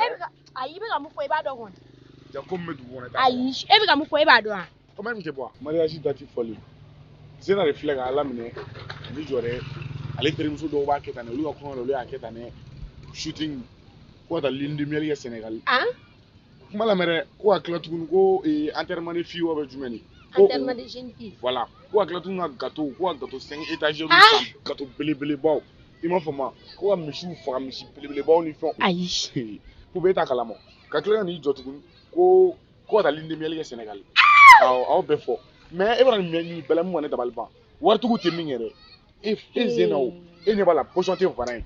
e bɛ ka ayi i bɛ ka mun fɔ i b'a dɔn kɔni. jaa ko min bɛ dugu kɔnɔ i t'a dɔn. ayi e bɛ ka mun fɔ e b'a dɔn wa. kɔmi e tun tɛ bɔ wa. mariage dati fɔli zena de filɛ ka ala minɛ ka n'i jɔ dɛ ale terimuso dɔw b'a kɛ tan dɛ olu ka kɔɲɔ la olu y'a kɛ tan dɛ shooting ko ka taa lune de miel kɛ sɛnɛgali. kuma lamɛn dɛ ko ka tila tuguni ko enterrement de fille wa bɛ jumɛn de. enterrement de jeune fille. voilà ko ka tila tuguni ka gateau ko ka gateau cinq étagères san gateau belebelebaw. i m'a faamu ko ka misiw faga misi belebelebaw ni fɛnw ayi ko b'e ta kalama ka tila ka n'i jɔ tuguni ko ko ka taa lune de miel kɛ sɛnɛgali awɔ aw bɛɛ fɔ mais e b'a dɔn nin bɛɛ la mun bɛ ka ne dabali ban waritigiw tɛ min kɛ dɛ e zena o e ɲɛ b'a la position tɛ varan ye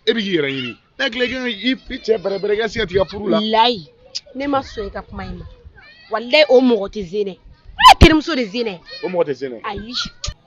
e bɛ k'i yɛrɛ ɲini n'a tila i ka i cɛ bɛrɛbɛrɛ i ka se ka tigɛ furu la layi ne ma sɔn i ka kuma in ma walayi o mɔgɔ tɛ zena ye ne terimuso de zena ye o mɔgɔ tɛ zena ye ayi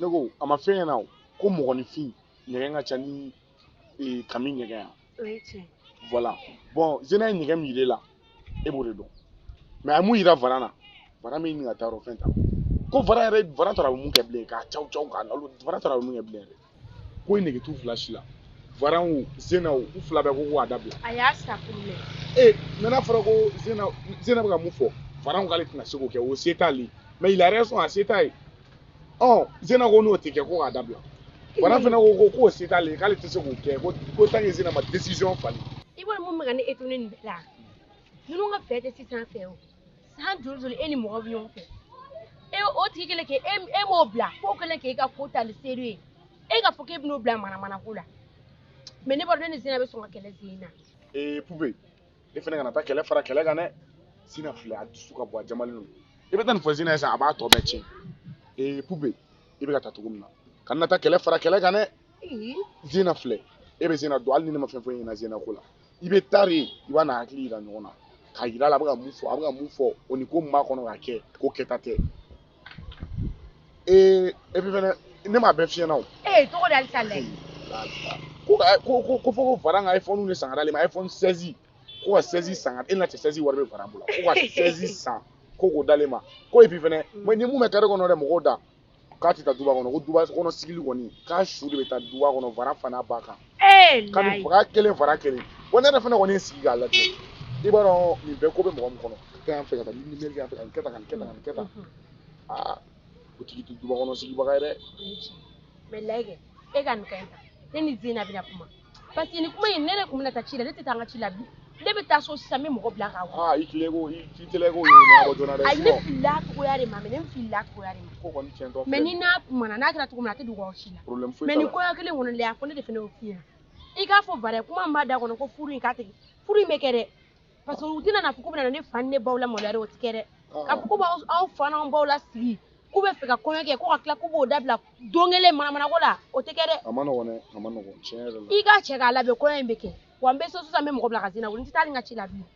ne ko a ma f'e ɲɛna ko mɔgɔninfin ɲɛgɛn ka ca ni eh, kami ɲɛgɛn ye wa voilà bon zena ye ɲɛgɛn min yire la e b'o de dɔn mais a ye mun yira vara na vara min ɲininka taa yɔrɔ fɛn ta ko vara yɛrɛ vara tora a bɛ mun kɛ bilen k'a caw caw k'a lalo vara tora a bɛ mun kɛ bilen yɛrɛ ko in nege t'u fila si la varan o zena o u fila bɛɛ ko ko a dabila a y'a sa kun mɛn ee mais n'a fɔra ko zena zena bɛ ka mun fɔ varan k'ale tɛna se k'o kɛ o se t'ale ye mais il a raison a se t'a ye ɔ zena ko n'o tɛ kɛ ko k'a dabila varan fana ko ko k'o se t'ale ye k'ale tɛ se k'o kɛ ko ko tant que zena ma décision falen i b'a dɔn mun bɛ ka ne étonner nin bɛɛ la ninnu ka fɛ tɛ sisan fɛ o san joli joli e ni mɔgɔ bɛ ɲɔgɔn fɛ e o tigi kelen k'e e m'o bila k'o kelen k'e ka ko talen sérieux ye e k'a fɔ k'e bɛn'o bila manamana ko la mais ne b'a dɔn ne ni zina bɛ sɔn ka kɛlɛ sen na. ee pupe e fana kana taa kɛlɛ fara kɛlɛ kan dɛ zina filɛ a dusu ka bon a jamalen don i bɛ taa nin fɔ zina ye sisan a b'a tɔ bɛɛ tiɲɛ ee pupe i bɛ ka taa cogo min na kana na taa kɛlɛ fara kɛlɛ kan dɛ zina filɛ e bɛ zina dɔn hali ni ne ma fɛn fɔ e ɲɛna zina ko la. i bɛ taa de i b'a n'a hakili yira ɲɔgɔn na k'a yira a la a bɛ ka mun fɔ a bɛ ka mun fɔ o ni ko min b'a kɔnɔ ka kɛ ko kɛta tɛ et puis fɛnɛ ne m'a bɛɛ f'i ɲɛna o. ee tɔ bɛ kɔ de halisa lɛ. ko ka ko ko ko fɔ ko varan ka iphone de san ka d'ale ma iphone 16 ko ka 16 san ka e ɲɛna cɛ 16 wari bɛ varan bolo ko ka 16 san ko k'o d'ale ma ko et puis fɛnɛ ni mun bɛ kare kɔnɔ dɛ mɔgɔw da k'a tɛ taa duba kɔnɔ ko duba kɔnɔ sigili kɔni k'a su de bɛ taa duba kɔnɔ vara fana ba kan eh, ka nin faga kelen vara kelen wa ne yɛrɛ fana kɔni sigi k'a lajɛ i b'a dɔn nin bɛɛ ko bɛ mɔgɔ min kɔnɔ ka yan fɛ ka taa ni nimeri yan fɛ ka nin kɛ tan ka nin kɛ tan ka nin kɛ tan aa o tigi tɛ duba kɔnɔ sigibaga ye dɛ mais layike e ka nin ka ɲi ta ne ni zina bɛna kuma parce que nin kuma in ne de tun bɛna taa ci la ne tɛ taa n ka ci la bi ne bɛ taa so sisan n bɛ mɔgɔ bila k'a wele. aa i teliya k'o i t'i teliya k'o ɲɛnabɔ joona dɛ. ayi ne filila cogoya de ma mɛ ne filila cogoya de ma. ko kɔni tiɲɛtɔ filɛ. mɛ ni n'a kumana n'a kɛra cogo min na a tɛ dogo aw si la. problème foyi t'a la mɛ nin kɔɲɔ kelen kɔnɔ lɛ a ko ne de fana y'o f'i ɲɛna i k'a fɔ bari kuma min b'a da kɔnɔ ko furu in ka tigɛ furu in bɛ kɛ dɛ parce que u tɛna n'a fɔ k'u bɛna ne fa ni ne baw lamaloya dɛ o tɛ kɛ dɛ ah. ka fɔ k'u b'anw fa n'anw baw lasigi k'u bɛ fɛ ka kɔɲɔ kɛ ko ka tila k'u b'o dabila don kelen manamanako la o tɛ kɛ dɛ a man nɔgɔn dɛ a man nɔgɔn tiɲɛ yɛrɛ la i k'a cɛ k'a labɛn kɔɲɔ in bɛ kɛ wa n bɛ so sisan n bɛ mɔgɔ bila ka zena wele n tɛ taa n ka ci la bilen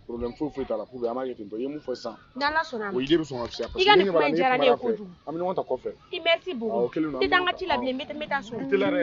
problème foyi foyi t'a la pour que an b'a kɛ ten tɔ i ye mun fɔ sisan ni ala sɔnna a ma o idée bɛ sɔn ka fisaya i ka nin kuma in diyara ne ye kojugu an bɛ ɲɔgɔn ta kɔfɛ i merci beaucoup n tɛ taa n ka ci la bilen n bɛ taa so i teliya dɛ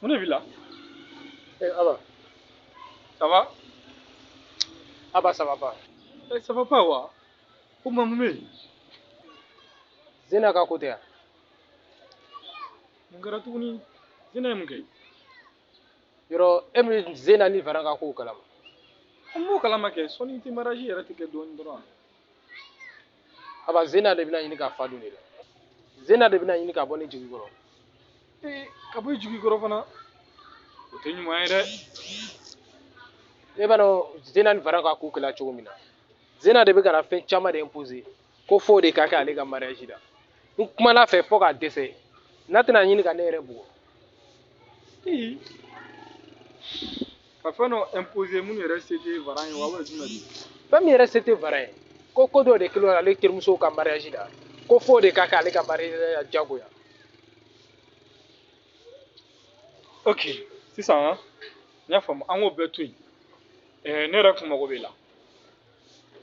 Mun de b'i la ee aba ça va aba ça va pas ee ça va pas wa comment mun bɛ yen zena ka ko tɛ yan mun kɛra tuguni zena ye mun kɛ yɔrɔ e bɛ zena ni varan ka kow kalama an b'o kalama kɛ sɔɔni tɛ mariage yɛrɛ tɛ kɛ dɔɔnin dɔrɔn aba zena de bɛna ɲini ka fa don ne la zena de bɛna ɲini ka bɔ ne jigi kɔrɔ ee ka bɔ i jigi kɔrɔ fana o tɛ ɲuman ye dɛ e b'a dɔn zena ni varan ka ko kɛla cogo min na zena de bɛ ka na fɛn caman de imposer ko f'o de ka kɛ ale ka mariage la n kumana a fɛ fo ka dɛsɛ n'a tɛna ɲini ka ne yɛrɛ bugɔ ee ka fɛn dɔ imposer minnu yɛrɛ se tɛ varan ye wa wala jumɛn de fɛn min yɛrɛ se tɛ varan ye ko ko dɔ de kɛlen don ale terimusow ka mariage la ko f'o de ka kɛ ale ka mariage la jagoya ok sisan n y'a faamu an k'o bɛɛ to yen eh, ne yɛrɛ kun mago b'i la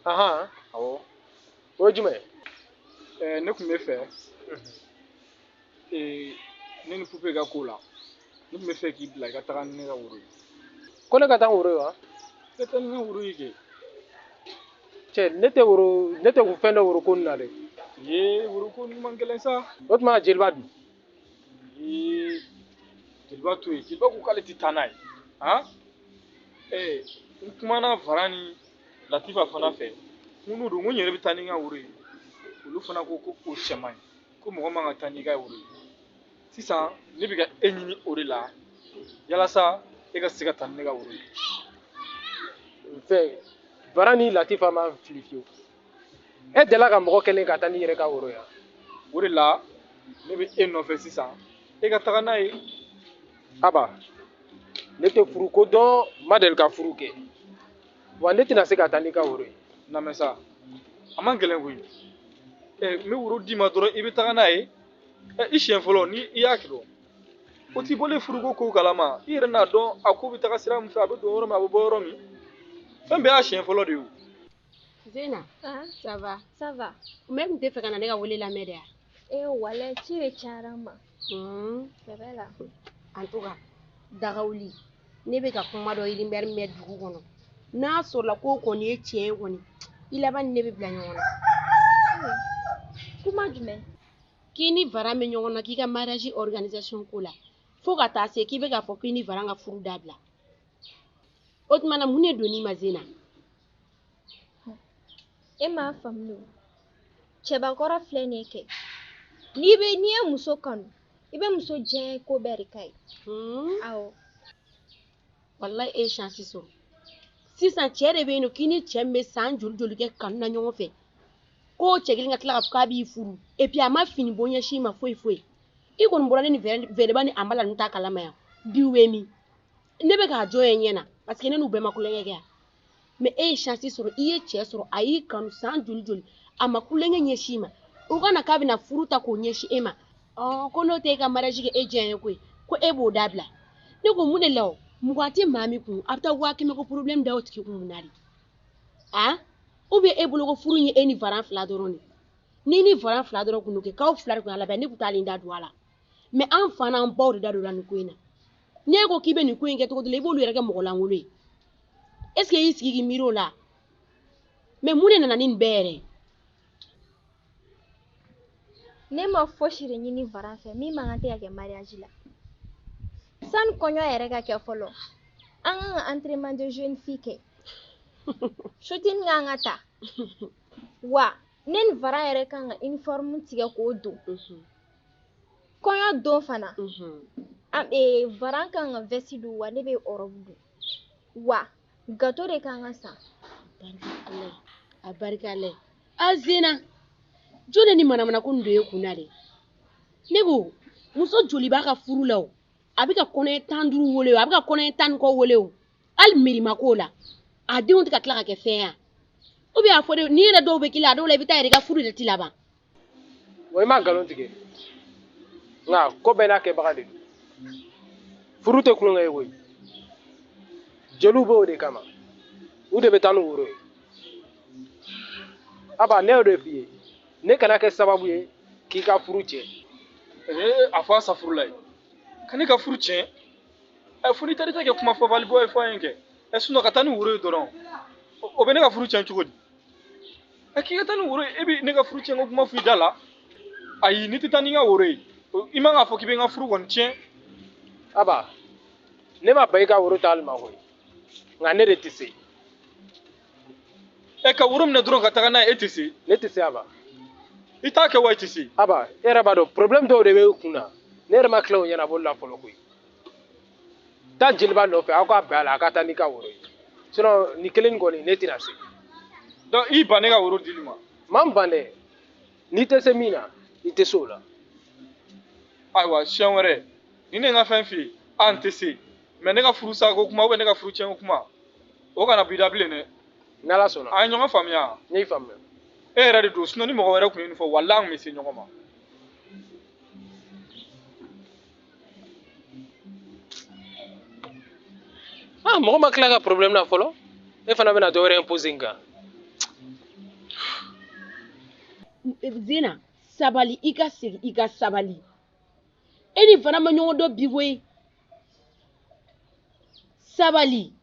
ahan awɔ o ye jumɛn ye eh, ne kun bɛ fɛ ee ne ni pupe ka ko la ne tun bɛ fɛ k'i bila i ka taga ni ne ka woro ye ko ne ka taa ni woro ye wa i ka taa ni ne ka woro ye kɛ cɛ ne tɛ woro ne tɛ kun fɛn dɔn woro ko nin na dɛ ye woro ko nin man gɛlɛn sa o tuma jeliba dun ee jeliba to yen jeliba ko k'ale tɛ taa n'a ye han ee n kumana varan ni latifa fana fɛ n ko n'o don n ko n yɛrɛ bɛ taa ni n ka woro ye olu fana ko ko o cɛ man ɲi ko mɔgɔ man ka taa n'i ka woro ye sisan ne bɛ ka e ɲini o de la yalasa e ka se ka taa ni ne ka woro ye fɛn varan ni latifa ma fili fiyewu e delila ka mɔgɔ kelen ka taa n'i yɛrɛ ka woro ye wa? o de la ne bɛ e nɔfɛ sisan e ka taga n'a ye aba ne tɛ furu ko dɔn n ma deli ka furu kɛ wa ne tɛna se ka taa n'i ka woro ye lamɛn sa a man gɛlɛn koyi ɛ n bɛ woro d'i ma dɔrɔn i bɛ taga n'a ye ɛ i siɲɛ fɔlɔ ni i y'a kɛ don o t'i bɔlen furuko kow kalama i yɛrɛ n'a dɔn a ko bɛ taga sira min fɛ a bɛ don yɔrɔ min a bɛ bɔ yɔrɔ min fɛn bɛɛ y'a siɲɛ fɔlɔ de ye o Zena, ça va? Ça va. Mais i tun t'a fɛ ka na ne ka wele lamɛn de ya. e walayi ci de cayara n ma sɛbɛ la en tout cas dagawuli ne bɛ ka kuma dɔ rumeur mɛn dugu kɔnɔ n'a sɔrɔla ko kɔni ye tiɲɛ ye kɔni i laban ni ne bɛ bila ɲɔgɔn na kuma jumɛn k'i ni varan bɛ ɲɔgɔn na k'i ka mariage organisation ko la fo ka taa se k'i bɛ k'a fɔ k'i ni varan ka furu dabila o tuma na mun de donn'i ma zena e m'a faamu cɛbakɔrɔ filɛ nin ye kɛ n'i bɛ n'i ye muso kanu i bɛ muso diyanye ko bɛɛ de k'a ye hmm. awɔ walayi e ye shansi sɔrɔ sisan cɛ de bɛ yen nɔ k'i ni cɛ min bɛ san joli joli kɛ kanu na ɲɔgɔn fɛ ko cɛ kelen ka tila k'a fɔ k'a b'i furu epi a ma fini bɔ ɲɛsin i ma foyi foyi i kɔni bɔra ne ni vɛrɛba ni anbala ninnu ta kalama yan bi u bɛ min ne bɛ k'a jɔ ye ɲɛ na paseke ne n'u bɛɛ ma kulonkɛ kɛ yan mɛ e ye shansi sɔrɔ i ye cɛ sɔrɔ a y'i kanu san joli joli a ma kulonkɛ ɲɛsi i ma o kana k'a bɛna furu ta k'o ɲɛsi e ma ko n'o tɛ e ka mariyaji kɛ e diya ye koyi ko e b'o dabila ne ko mun de la o mugan tɛ maa min kun a bɛ taa waa kɛmɛ ko porobilɛmu da o tigi kun mun na de ou bien e bolo ko furu ye e ni varan fila dɔrɔn de n'i ni varan fila dɔrɔn kun don kɛ k'aw fila de kun y'a labɛn ne kun tɛ ne da don a la mɛ an fa n'an baw de da don la nin ko in na n'e ko k'i bɛ nin ko in kɛ cogo dɔ la i b'olu yɛrɛ kɛ mɔgɔ lankolon ye est ce que i y'i sigi k'i miiri o la mɛ mun de nana ni nin bɛɛ yɛrɛ ne ma fosi de ɲini varan fɛ min man kan tɛ ka kɛ mariyaji la sani kɔɲɔ yɛrɛ ka kɛ fɔlɔ an kan ka enterrement de jeune fille kɛ shooting kan ka ta wa ne ni varan yɛrɛ kan ka uniforme tigɛ k'o don mhm. kɔɲɔ don fana varan ka kan ka vɛsi don wa ne bɛ ɔrɔbu don wa gato de ka kan ka san a barika a zena jɔn de nin manamana ko don e kun na de ne ko muso joli b'a ka furu la a bɛ ka kɔnɔ tan ni duuru weele a bɛ ka kɔnɔ tan ni kɔ weele o hali mima ko la a denw tɛ ka tila ka kɛ fɛn ye ou bien a fɔ n'i yɛrɛ dɔw bɛ k'i la a dɔw la i bɛ taa i ka furu de tɛ laban wa i ma nkalon tigɛ nka ko bɛɛ n'a kɛbaga de don furu tɛ tulonkɛ ye koyi jeliw b'o de kama u de bɛ taa ni woro ye aba ne y'o de f'i ye ne kana kɛ sababu ye k'i ka furu tiɲɛ ee a fɔ asafurulayi ka ne ka furu tiɲɛ ɛ fo n'i taar'i ta kɛ kuma fɔbali bɔ ye fɔ an ye kɛ ɛ sinon ka taa ni woro ye dɔrɔn o bɛ ne ka furu tiɲɛ cogo di a k'i ka taa ni woro ye e bɛ ne ka furu tiɲɛ ko kuma f'i da la ayi n'i tɛ taa n'i ka woro ye i man k'a fɔ k'i bɛ n ka furu kɔni tiɲɛ aba ne ma ban i ka woro taali ma koyi nka ne de tɛ se ɛ ka woro minɛ dɔrɔn ka taga n'a ye e tɛ se ne tɛ se aba i t'a kɛ wa i tɛ se aba e yɛrɛ b'a dɔn problème dɔw de bɛ e kun na ne yɛrɛ ma tila o ɲɛnabɔli la fɔlɔ koyi taa jeliba nɔfɛ aw ka bɛn a la a ka taa n'i ka woro ye sinon nin kelen nin kɔni ne tɛna se donc i ban ne ka woro dili ma ma n ban dɛ n'i tɛ se min na i tɛ se o la ayiwa siɲɛ wɛrɛ ni ne ka fɛn f'i ye a n tɛ se mais ne ka furu sako kuma ou bien ne ka furu tiɲɛko kuma o kana b'i da bilen dɛ n'ala sɔnna an ye ɲɔgɔn faamuya ne y'i faamuya e yɛrɛ de don sinon ni mɔgɔ wɛrɛ tun ye nin fɔ walahi an tun bɛ se ɲɔgɔn ma ah mɔgɔ ma tila ka problème na fɔlɔ e fana bɛna dɔ wɛrɛ imposer n kan zena sabali i ka segin i ka sabali e ni varan ma ɲɔgɔn dɔn bi koyi sabali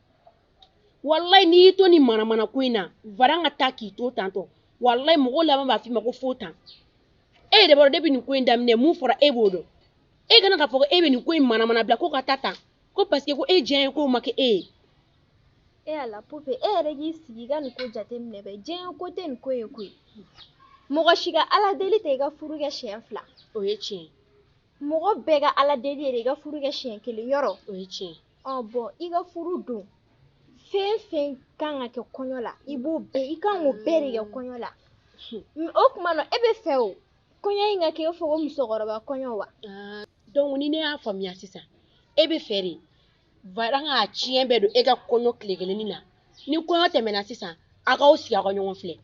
walayi n'i y'i to nin manamana ko in na varan ka taa k'i to tan tɔ walayi mɔgɔw laban b'a f'i ma ko fo tan e yɛrɛ b'a dɔn depuis nin ko in daminɛ mun fɔra e b'o dɔn e kana k'a fɔ ko e bɛ nin ko in manamana bila ko ka taa tan ko parce que ko e diyanye ko ma kɛ e ye e ala pupe e yɛrɛ k'i sigi ka nin ko jateminɛ bɛ diɲɛ ko tɛ nin ko ye koyi mɔgɔ si ka ala deli tɛ i ka furu kɛ siɲɛ fila o ye tiɲɛ mɔgɔ bɛɛ ka ala deli ye de i ka furu kɛ siɲɛ kelen yɔrɔ o ye tiɲɛ ɔ bon i ka furu don fɛn fɛn kan ka kɛ kɔɲɔ la i b'o bɛɛ i kan k'o bɛɛ de kɛ kɔɲɔ la o tuma na e b'a fɛ o kɔɲɔ in ka kɛ i fɔ ko musokɔrɔba kɔɲɔ wa ah, donc ni ne y'a faamuya sisan e b'a fɛ de varan k'a tiɲɛ bɛɛ don e ka kɔɲɔ tile kelenni na ni kɔɲɔ tɛmɛna sisan a k'aw sigi aw ka ɲɔgɔn filɛ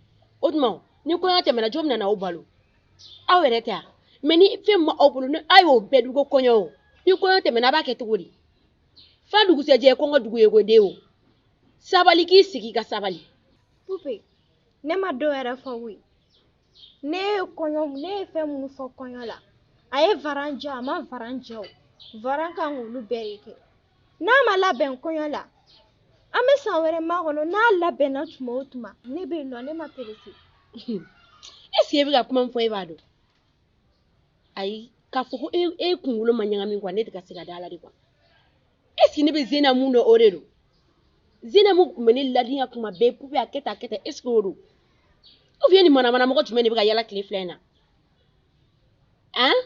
o tuma ni kɔɲɔ tɛmɛna jɔn bɛna aw balo aw yɛrɛ tɛ yan mais ni fɛn b'aw bolo ni aw y'o bɛɛ dun ko kɔɲɔ o ni kɔɲɔ tɛmɛna a b'a kɛ cogo di fa dugusɛjɛ ye kɔngɔ dugu ye ko den o sabali k'i sigi ka sabali pupe ne ma dɔ yɛrɛ fɔ koyi ne ye kɔɲɔ ne ye fɛn minnu fɔ kɔɲɔ la a ye varan diya a ma varan diya o varan kan k'olu bɛɛ de kɛ n'a ma labɛn kɔɲɔ la an bɛ san wɛrɛ makɔnɔ n'a labɛnna tuma o tuma ne bɛ yen non ne ma pressé est ce que e bɛ ka kuma min fɔ e b'a dɔn ayi k'a fɔ ko e, e kunkolo ma ɲagami quoi ne tɛ ka se ka da a la dɛ quoi est ce que ne bɛ zena mun dɔn o de don zena mun tun bɛ ne ladiya kuma bɛɛ pupe a kɛ tan a kɛ tan est ce que o don ou bien nin manamana mɔgɔ jumɛn de bɛ ka yala tile fila in na an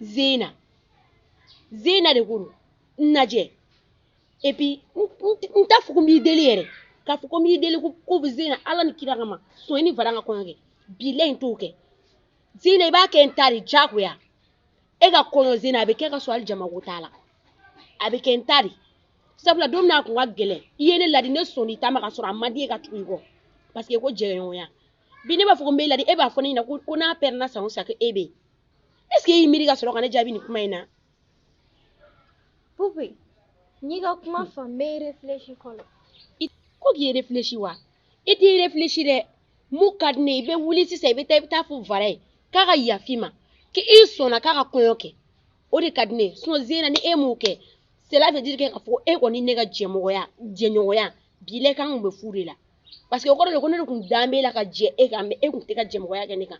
zena zena de ko don n lajɛ et puis n t'a fɔ ko n b'i deli yɛrɛ k'a fɔ ko n b'i deli ko bɛ zena ala ni kira kama sɔn i ni varan ka kɔɲɔ kɛ bilahi n t'o kɛ zena i b'a kɛ n ta de diyagoya e ka kɔɲɔ zena a bɛ kɛ ka sɔrɔ hali jamako t'a la a bɛ kɛ n ta de sabu la don min a kun ka gɛlɛn i ye ne ladi ne sɔnna i ta ma ka sɔrɔ a man di n ye ka tugu i kɔ parce que ko jɛɲɔgɔnya bi ne b'a fɔ ko n b'e ladi e b'a fɔ ne ɲɛna ko n'a pɛrɛnna san o san ko e bɛ yen est ce que e y'i miiri ka sɔrɔ ka ne jaabi nin kuma in na pupe n y'i ka kuma faamu n bɛ réfléchi fɔlɔ ko k'i réfléchi wa i t'i réfléchi dɛ mun ka di ne ye i bɛ wuli sisan i bɛ taa i bɛ taa fɔ varan ye k'a ka yafa i ma k'i sɔnna k'a ka kɔɲɔ kɛ o de ka di ne ye sinon zena ni e m'o kɛ cela veut dire que k'a fɔ ko e kɔni ne ka jɛmɔgɔya jɛɲɔgɔnya bilahi k'an kun bɛ fu de la parce que o kɔrɔ de ko ne de kun dalen b'e la ka jɛ e kan mais e kun tɛ ka jɛmɔgɔya kɛ ne kan